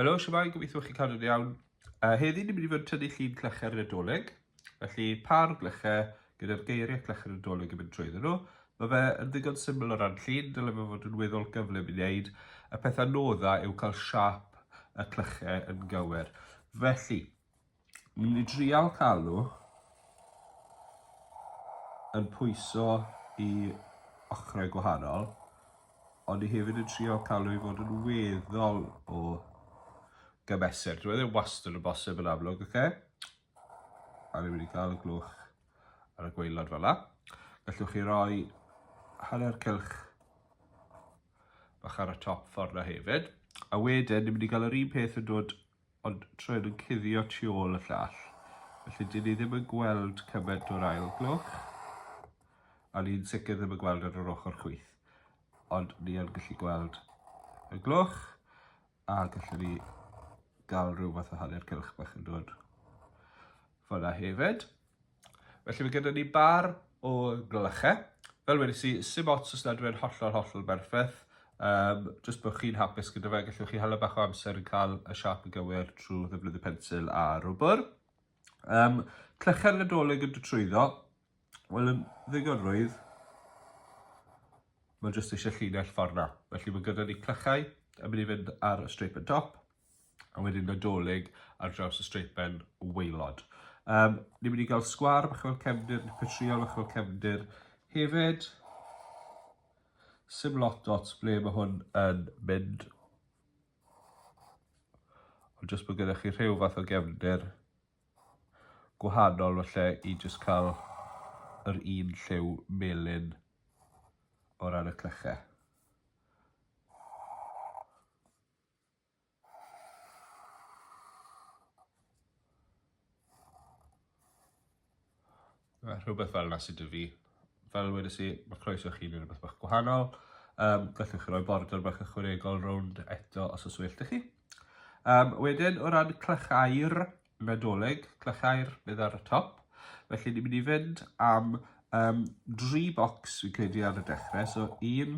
Helo, siamai, gobeithio chi cadw'n iawn. Uh, heddi ni'n mynd i fod yn tynnu llun clecher yn y doleg. Felly, par glecher gyda'r geiriau clecher yn y doleg yn mynd trwy nhw. Mae fe yn ddigon syml o ran llun, dylai fe fod yn weddol gyflym i wneud. Y pethau nodda yw cael siap y clecher yn gywir. Felly, Dwi'n mynd i drial cael nhw yn pwyso i ochrau gwahanol, ond i hefyd yn trio cael nhw i fod yn weddol o gymesur. Dwi'n meddwl wastad yn bosib yn amlwg, oce? A ni'n mynd i gael y glwch ar y gweilod fel la. Gallwch chi roi hanner cylch bach ar y top ffordd na hefyd. A wedyn, ni'n mynd i gael yr un peth yn dod Ond trwyn yn cuddio tu ôl y llall, felly dyn ni ddim yn gweld cymaint o'r ail gloch, a ni'n sicr ddim yn gweld ar yr ochr chwith. Ond ni yn gallu gweld y gloch, a gallwn ni gael rhyw fath o hanner cylch bach yn dod Fyna hefyd. Felly mae gyda ni bar o glychau. Fel wedi si, sy'n ots os nad yw'n hollol hollol berffaith. Um, just bod chi'n hapus gyda fe, gallwch chi hala bach o amser yn cael y siap yn gywir trwy ddefnyddio pensil a rwbr. Um, clychau'r nadolig yn trwyddo, wel yn ddigon rwydd, mae jyst eisiau llinell ffordd na. Felly mae gyda ni clychau yn mynd i fynd ar y strip yn dop. a wedyn Nadolig ar draws y streipen waelod. Um, ni'n mynd i gael sgwar bach fel cefndir, petriol bach fel cefndir hefyd. Sim lot dots ble mae hwn yn mynd. Ond jyst bod gyda chi rhyw fath o gefndir gwahanol felly i jyst cael yr un lliw melyn o ran y clychau. rhywbeth fel yna sydd 'da fi. Fel wedes i, mae croeso chi wneud rhywbeth bach gwahanol. Um, gallwch chi roi border bach ychwanegol rownd eto os oes well chi. Um, wedyn, o ran clychau'r nadolig, clychau'r bydd ar y top, felly ni'n mynd i fynd am um, dri bocs fi'n credu ar y dechrau. So, un,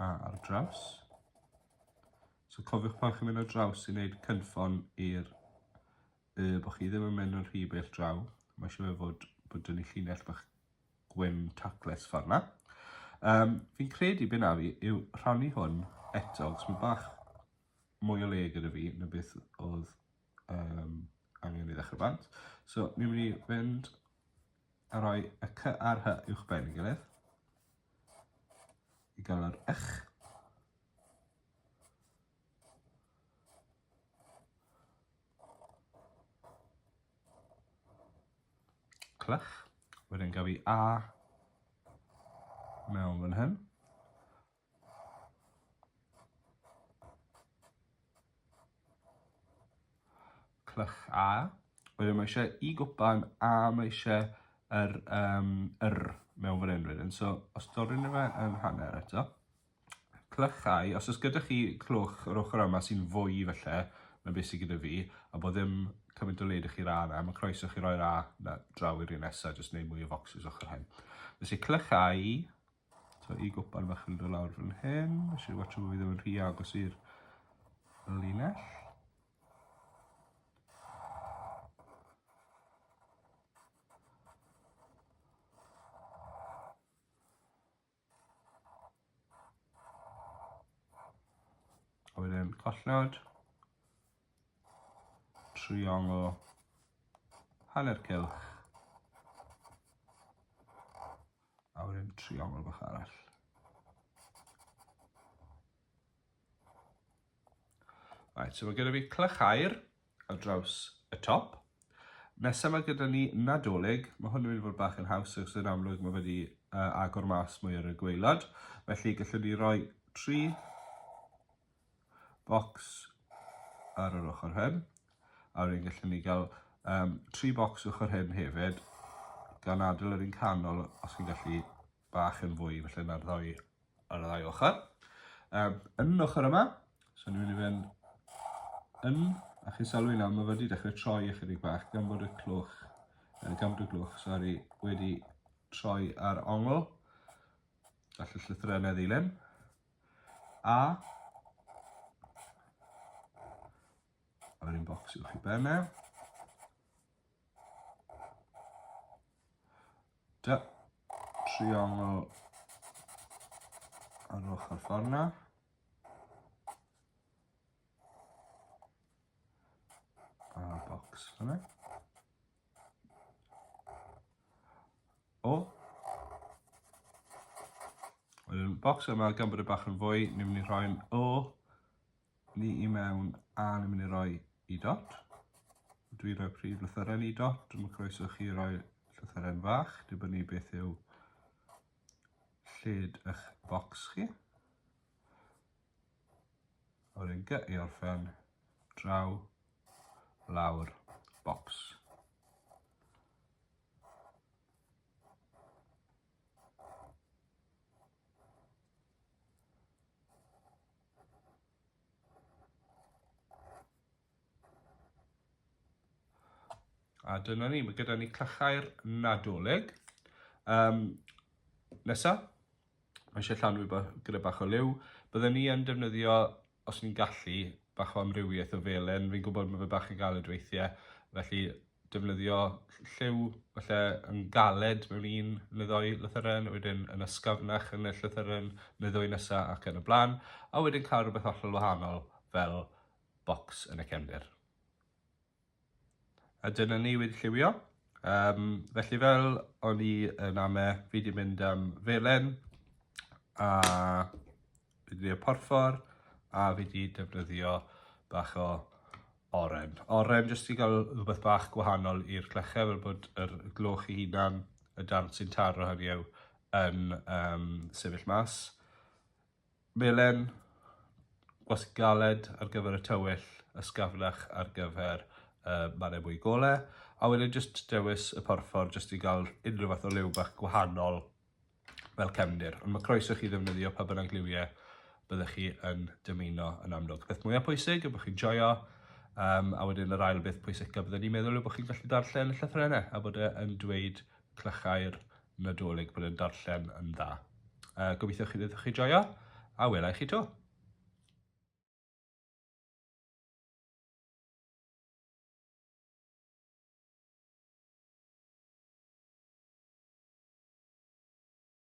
A ar draws. So cofiwch pan chi'n mynd ar draws i wneud cynffon i'r y bod chi ddim yn mynd yn rhy bell draw. Mae eisiau fe fod bod dyn ni llinell bach gwyn tacles ffordd na. Um, fi'n credu byn a fi yw rhannu hwn eto, cos mae bach mwy o le gyda fi na beth oedd um, angen i ddechrau bant. So, ni'n mynd i fynd a rhoi y cy a'r hy uwch ben i gilydd. I gael yr ych. Clych. Wedyn gaf i a mewn fan hyn. Clych A. Wedyn mae eisiau i gwpan A mae eisiau yr, um, yr mewn fan hyn wedyn. So, os doryn fe yn hanner eto. Clychau, os oes gyda chi clwch yr ochr yma sy'n fwy felly, na beth sydd gyda fi, a bod ddim cymaint o led i chi'r A yna, mae croeso chi roi'r A na draw i'r un nesaf, jyst wneud mwy o focsys ochr hyn. Felly clychau, So i gwpan fach yn dod lawr fan hyn. Nes i watcho bod fi ddim yn rhy agos i'r linell. A wedyn collnod, triongl, hanner cilch, A wedyn trio fel bach arall. Right, so mae gyda fi clych air ar draws y top. Nesaf mae gyda ni nadolig, mae hwn yn mynd i fod bach yn haws, ac sy'n amlwg mae wedi uh, agor mas mwy ar y gweilod. Felly gallwn ni roi tri bocs ar yr ochr hyn a wedyn gallwn ni gael um, tri bocs ochr hyn hefyd gan adael yr un canol os chi'n gallu bach yn fwy felly na'r ddau ar y ddau ochr. Um, yn ochr yma, so ni'n mynd i fynd yn a chi'n sylwi nawr mae wedi dechrau troi ychydig bach gan bod y clwch, uh, gan bod y glwch, sori, wedi troi ar ongl gall y llythyrennau ddilyn. A a wedyn bocs uwch i ben e. Da, triongl ar ochr ffordd na. A bocs hwnna. O! Yn y bocs yma, gan bod y bach yn fwy, ni'n mynd i rhoi'n O ni i mewn a ni'n mynd i roi i dot. Dwi'n rhoi prif lythyren i dot, dwi'n mynd croeso chi roi llythyren fach, dibynnu beth yw lled eich bocs chi. O'r un gy i orffen draw lawr bocs. A dyna ni, mae gyda ni clychau'r nadolig. Um, nesa, Mae eisiau llanw i gyda bach o liw. Bydden ni yn defnyddio, os ni'n gallu, bach o amrywiaeth o felen. Fi'n gwybod mae fe bach yn galed weithiau, felly defnyddio lliw falle yn galed mewn un neu ddoi lythyren, wedyn yn ysgafnach yn y llythyren neu ddwy nesa ac yn y blaen, a wedyn cael rhywbeth hollol wahanol fel bocs yn y cefndir. A dyna ni wedi lliwio. Um, felly fel o'n i yn ame, fi wedi mynd am felen a fi wedi porffor a fi wedi defnyddio bach o oren. Oren jyst i gael rhywbeth bach gwahanol i'r clechau fel bod yr gloch i hunan y darn sy'n taro hynny yw yn um, sefyll mas. Melen gwasg galed ar gyfer y tywyll, ysgafnach ar gyfer y mannau mwy gole, a wedyn jyst dewis y porffor jyst i gael unrhyw fath o liw bach gwahanol fel cefndir. Ond mae croeso chi ddefnyddio pa bynnag liwiau byddech chi yn dymuno yn amlwg. Peth mwyaf pwysig yw bod chi'n joio, um, a wedyn yr ail beth pwysica byddwn ni'n meddwl yw bod chi'n gallu darllen y llythrenau a bod e yn dweud Clychau'r Nadolig bod yn darllen yn dda. Uh, gobeithio chi ddewch chi joio, a welai chi to.